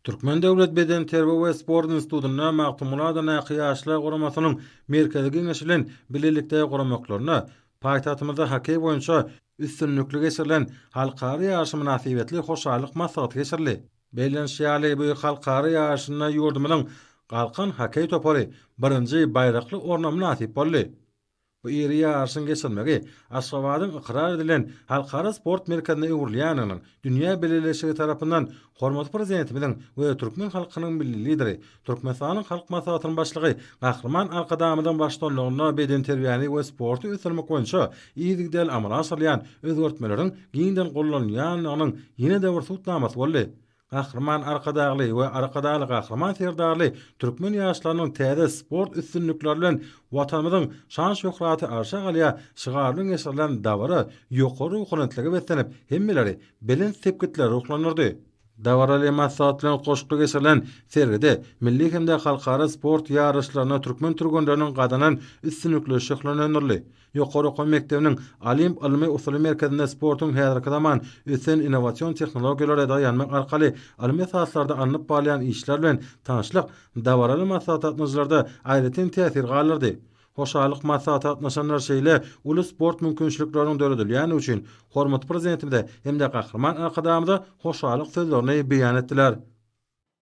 Türkmen döwlet bedenterbiýe we sport institutynda Magtymguly adyndaky Ýaşlar guramasynyň Merkezi geňeşi bilen bilelikde guramaklarynda paýtagtymyzda hokkeý boýunça üstünlikli geçirilen halkara ýaryşy mynasybetli hoşallyk maslahaty geçirildi. Bellenişi ýaly, bu halkara ýaryşynda ýurdumyzyň Galkan hokkeý topary birinji baýrakly orna mynasyp boldy. Bu iri ýaryşyň geçirilmegi Aşgabadyň ykrar edilen halkara sport merkezine öwrülýändiginiň dünýä bileleşigi tarapyndan hormatly Prezidentimiziň we türkmen halkynyň Milli Lideri, Türkmenistanyň Halk Maslahatynyň Başlygy Gahryman Arkadagymyzyň baştutanlygynda bedenterbiýäni we sporty ösdürmek boýunça yzygiderli amala aşyrylýan özgertmeleriň giňden gollanylýandygynyň ýene-de bir subutnamasy boldy. Gahryman Arkadagly we Arkadagly Gahryman Serdarly türkmen ýaşlarynyň täze sport üstünlikleri bilen Watanymyzyň şan-şöhraty arşa galýar şygar bilen geçirilen dabara ýokary ruhubelentlige beslenip, hemmeleri belent sepgitlere ruhlandyrdy. Dabaraly maslahat bilen goşgy geçirilen sergide milli hem-de halkara sport ýaryşlarynda türkmen türgenleriniň gazanan üstünlikleri şöhlelendirildi. Ýokary okuw mekdebiniň Olimp ylmy-usuly merkezinde sportuň häzirki zaman ösen innowasion tehnologiýalara daýanmak arkaly ylmy esaslarda alnyp barylýan işler bilen tanyşlyk dabaraly maslahata gatnaşyjylarda aýratyn täsir galdyrdy. Hoşallyk maslahata gatnaşanlar şeýle uly sport mümkinçilikleriniň döredilýändigi üçin hormatly Prezidentimize hem-de Gahryman Arkadagymyza hoşallyk sözlerini beýan etdiler.